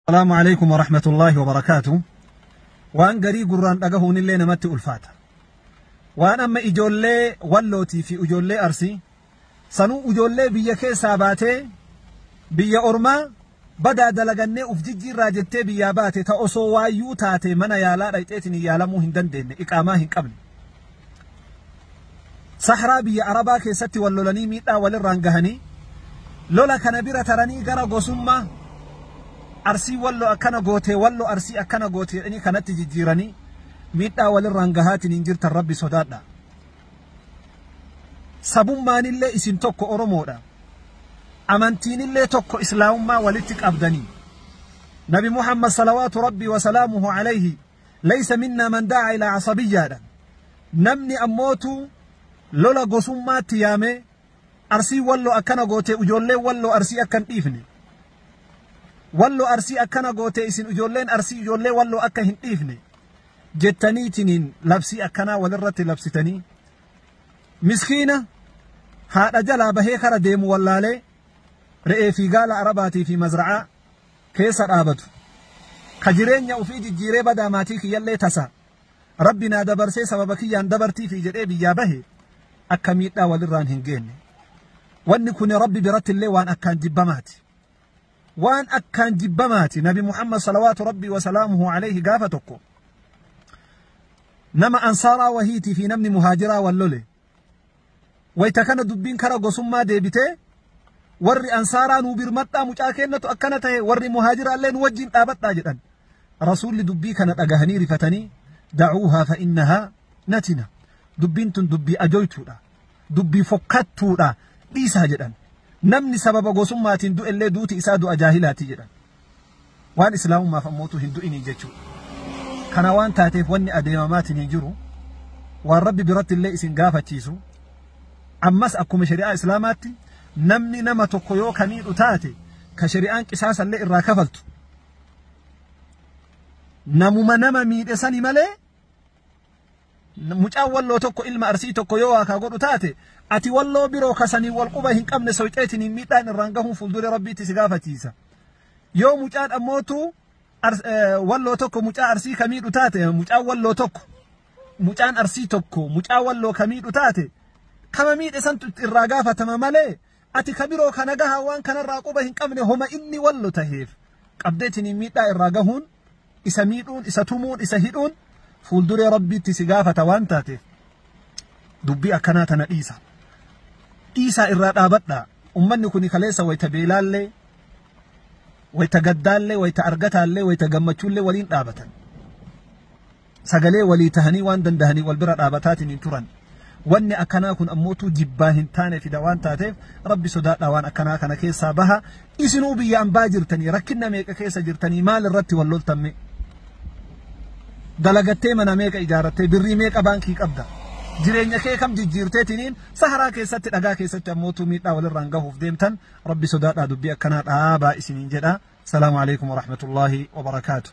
Salaamu alaikum wa rahmatullahi wa barakaatu. Waan garii gurraan dhagahuun illee namatti ulfaata. Waan amma ijoollee wallootii fi ijoollee arsii sanuu ijoollee biyya keessaa baatee biyya ormaa badaa dalagannee uf jijjiirraa jettee biyyaa baate ta osoo waayyuu taate mana yaalaa dhayxeetiin yaalamuu hin dandeenye iqaamaa hin qabne. Sahraa biyya Arabaa keessatti wal lolanii miidhaa walirraan gahanii lola kana bira taranii gara gosummaa Arsii Wallo akkana gootee Wallo Arsii akkana gootee jedhanii kanatti jijjiiranii miidhaa walirraan gahaatiin hin jirtan Rabbi sodaadha. Sabummaanillee isin tokko Oromoodha. Amantiinillee tokko Islaamummaa walitti qabdanii. Nabi Muhammad salawaatu Rabbi wa salaamuhu alayhi Laysa minnaa man da'aa ilaa asabiyyaadhaan namni ammootu lola gosummaatti yaamee Arsiin Walloo akkana gootee ijoolleen Walloo Arsii akka hin dhiifne Walloo Arsii akkana gootee isin ijoolleen Arsii ijoollee Walloo akka hin dhiifne jettaniitiniin labsii akkanaa walirratti labsitanii miskiina haadha jalaa bahee kara deemu wallaalee re'ee fi gaala arabaatii fi mazra'aa keessa dhaabatu ka jireenya ufii jijjiiree badaa maatii kiyyallee tasa rabbi naa dabarsee sababa kiyyaan dabartiifi jedhee biyyaa bahe akka miidhaa walirraan hin geenne wanni kun rabbi biratti illee waan akkaan jibbamaati waan akkaan jibbamaati nabi muhammad salawaatu rabbii wasalaamuhu alayhi gaafa tokko nama ansaaraa wahiitii fi namni muhaajiraa wal lole Wayta kana dubbiin kara gosummaa deebitee warri ansaaraa nuu birmadhaa mucaa keennatu akkana tahe warri muhaajira illee nu wajjin dhaabadhaa jedhan. Rasuulli dubbii kana dhagahanii rifatanii da'uuhaa fa'innahaa natina. Dubbiin tun dubbii ajoytuudha. Dubbii fokkattuudha. Dhiisaa jedhan. Namni sababa gosummaatiin du'ellee duuti isaa du'a jaahilaati jedhan. Waan Islaamummaaf ammootu hin du'inii jechuu. Kana waan taateef wanni adeemamaatinii jiru waan Rabbi biratti illee isin gaafachiisu ammas akkuma shari'aa Islaamaatti namni nama tokko yoo ka miidhu taate ka shari'aan qisaasa illee irraa kafaltu namuma nama miidhe sani malee mucaan walloo tokko ilma arsii tokko yoo waakaa godhu taate ati walloo biroo kasanii wal quba hin qabne soyxeetiniin miidhaan irraan gahuun fuulduree rabbiitti si gaafachiisa yoo mucaan ammootu walloo tokko mucaa arsii kamiidhu taate mucaan walloo tokko mucaan arsii tokko mucaa walloo kamiidhu taate kama miidhe santu irraa gaafatama malee ati ka biroo kana gahaa waan kanarraa quba hin qabne homa inni wallo taheef qabdeetiniin miidhaa irraa gahuun isa miidhuun isa tumuun isa hidhuun fuulduree rabbiitti si gaafata waan taateef dubbii akkanaa tana dhiisa dhiisaa irraa dhaabadhaa ummanni kuni kaleessa wayta beelaallee wayta gaddaallee wayta argataallee wayta gammachuullee waliin dhaabatan sagalee walii tahanii waan dandahaniin wal bira dhaabataatiin hin turan. Wanni akkanaa kun ammootuu jibbaa hin taane fida waan taateef rabbi sodaadhaa waan akkanaa kana keessaa baha. Isinuu biyya ambaa jirtanii rakkinna meeqa keessa jirtanii maal irratti wal loltamme? Dalagattee mana meeqa ijaarattee birrii meeqa baankii qabda? Jireenya kee kam jijjiirteetiniin saharaa keessatti dhagaa keessatti ammootuu miidhaa walirraan gahuuf deemtan rabbi sodaadhaa dubbii akkanaa dhaabaa isiniin jedha. Salaamu alaikum wa rahmatullahi wa barakaatuh.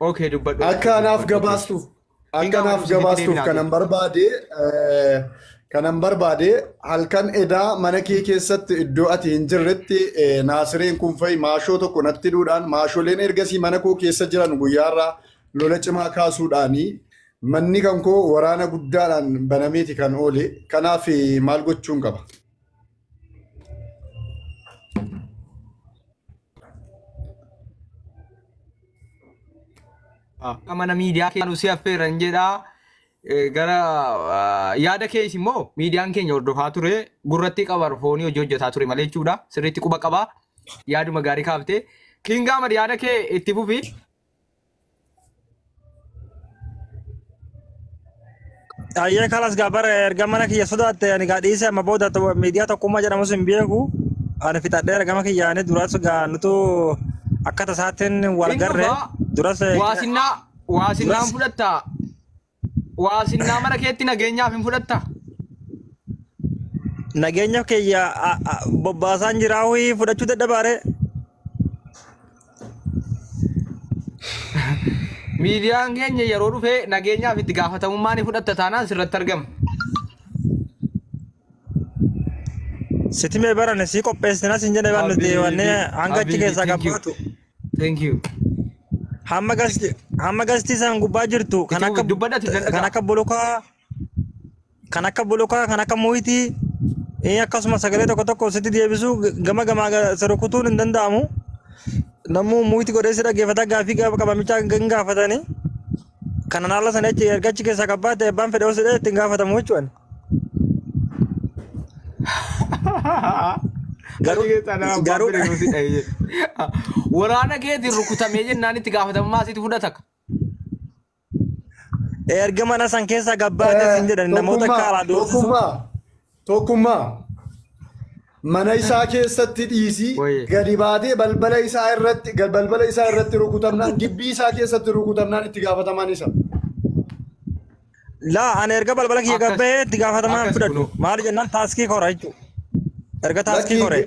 Okay dubbadhu. Akka anaaf gabaastuuf akka anaaf gabaastuuf kanan barbaade eh, kanan barbaade halkan edaa mana kee keessatti iddoo ati hin jirretti eh, naasireen kun fa'i maashoo tokko natti hidhuudhaan maasholeen ergasii mana koo keessa jiran guyyaarraa lola cimaa kaasuudhaanii manni kan koo waraana guddaadhaan banameeti kan oole kanaaf eh, maal gochuun qaba? Akka mana miidiyaa keenu si affeeran jedha. Eh, Gara ah, yaada kees immoo miidiyaan keenya hordofaa ture gurratti qabar foonii hojii hojjetaa ture malee jechuudha. Sirriitti quba qaba. Yaaduma gaarii kaafte. Kiingaa mad yaada kee itti fufi. Ayyee kalas gaa bara erga mana kiyya sodaatte ani gaa dhiisee amma booda to- miidiyaa tokkummaa jedhamus hin beeku. Ani fixadheera gama kiyyaanii duras gaa nutu akka tasaatiin wal garre duras Waasinaa waasinaan Duras- fudhattaa Waa sinnaa mana keetti nageenyaaf hin fudhattaa? Nageenya kiyya a- a- bobbaasaan jiraa ho'i fudhachuu dadhabaare. Miidiyaan keenya yeroo dhufee nageenyaaf itti gaafatamummaa ni fudhatta taanaan sirratti argama. Sitimee barane sii qopheessinas hin jedhe waan nuti Habiibi, wanne hanga achi habiibi, keessaa thank you. qabbaatu. Thank you. Hamma gasti hamma gasti isaan gubbaa jirtu kan Itti akka dubbadhati kan danda'aa. akka bolokaa kan akka bolokaa kan akka muhitii eh, akkasuma sagalee tokko tokko sitti deebisuu g- gama gamaa ga- si rukutuun hin danda'amu. Namuu muhitii godhee si dhaggeeffata gaaffii gaafa qabamichaa hin gaafatani. Kanan haala sana achi erga achi keessaa qabbaate abbaan fedhe osoo itti hin gaafatamu jechuudha. Garuu- Garuu keessaa nama garuu- abbaan bira si dhahe jedhe. Waraana keetiin rukutamee jennaan itti gaafatamummaa sitti fudhata. Erga mana san keessa gabbaate sin jedhan namoota akka alaa doorsisuu. tokkummaa tokkummaa mana isaa keessatti dhiisii Wayye. gadi baatee balbala isaa irratti gad- balbala isaa irratti rukutamnaan gibbii isaa keessatti rukutamnaan itti gaafatamaan isa. Laa ani erga balbala kiyya Akkas- gabbee itti gaafatamaa hin akkas fudhadhu. kunoo. Maali jennaan taaskii kora jechuudha. Erga taaskii kore.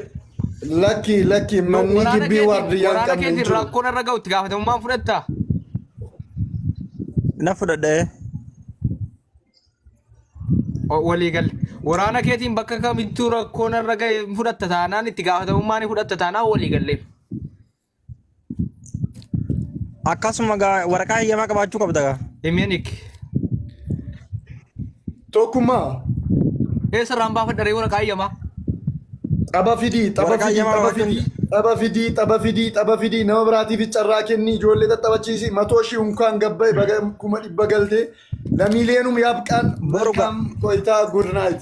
Lakki lakki No, manni waraana gibbii keetiin- waardiyyaa hin waraana qabne hin keetiin jiru. rakkoon irra ga'u itti gaafatamummaan fudhatta. Na fudhadhee. O- Walii galle. Waraana keetiin bakka kamittuu rakkoon irra ga'e hin fudhatta taanaan itti gaafatamummaa ni fudhatta taanaan walii galle. Akkasuma gaa waraqaa heyyamaa qabaachuu qabda gaa. Himeenik. Tokkummaa. Eessa irraan baafadha ree waraqaa heyyamaa? Xaba fidii, xaba Waraqaa fidii, heyyamaa xaba baafadha. fidii, xaba fidii, xaba fidii, xaba fidii, nama biraatiif carraa kenni, ijoollee xaxabachiisi, matoo ishii unkaan gabba'e baga kuma dhibba galte, lamiileenum yaabqaan, Boru ga- malkaam qoyitaa, good night.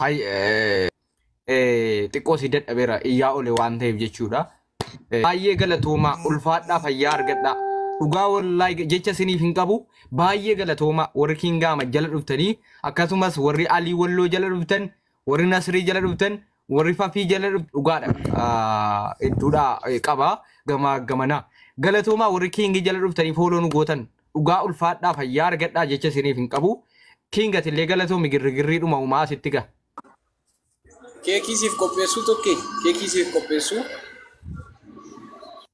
Hay eh, eh, xiqqoo si dadhabeera iyyaa ole waan ta'eef jechuudha. Eh, Baay'ee galatoomaa ulfaadhaa fayyaa argadhaa. Dhugaa wallaay jecha isiniif hin qabu baay'ee galatoomaa warri Kiingaama jala dhuftanii akkasumas warri Alii Walloo jala dhuftan warri Nasrii jala dhuftan Warri fafii jala dhuftu dhugaadha. Ah, Hedduudhaa eh, qaba gamaa gamanaa. Galatoomaa warri kiingii jala dhuftanii fooloo nu gootan dhugaa ulfaadhaa fayyaa argadhaa jecha isiniif hin qabu. Kiingat illee galatoomi girrigirrii dhuma uumaa asitti ga. Keekii siif qopheessuu tokkee? Keekii siif qopheessuu?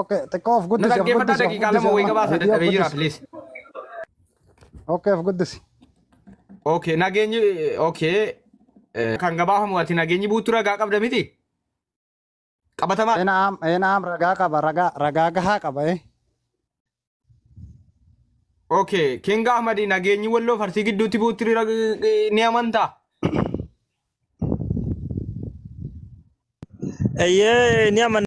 Okay, xiqqoo of Na guddisi, of dhaggeeffadhaa guddisi, of daqiiqaa guddisi lama wayii amma. gabaasa Viidiyoo of dadhabee jira guddisi. please. Okay, of guddisi. Okay, nageenyi okay. eh, Kan gabaafamu ati nageenyi buutu ragaa qabda miti? Qabatamaa. Enaam, enaam ragaa qaba, ragaa, ragaa gahaa qaba eh. Okay, King Ahmad nageenyi walloo farsii gidduutti buutti rag- eh, ni amantaa? Eeyyee ni amanna.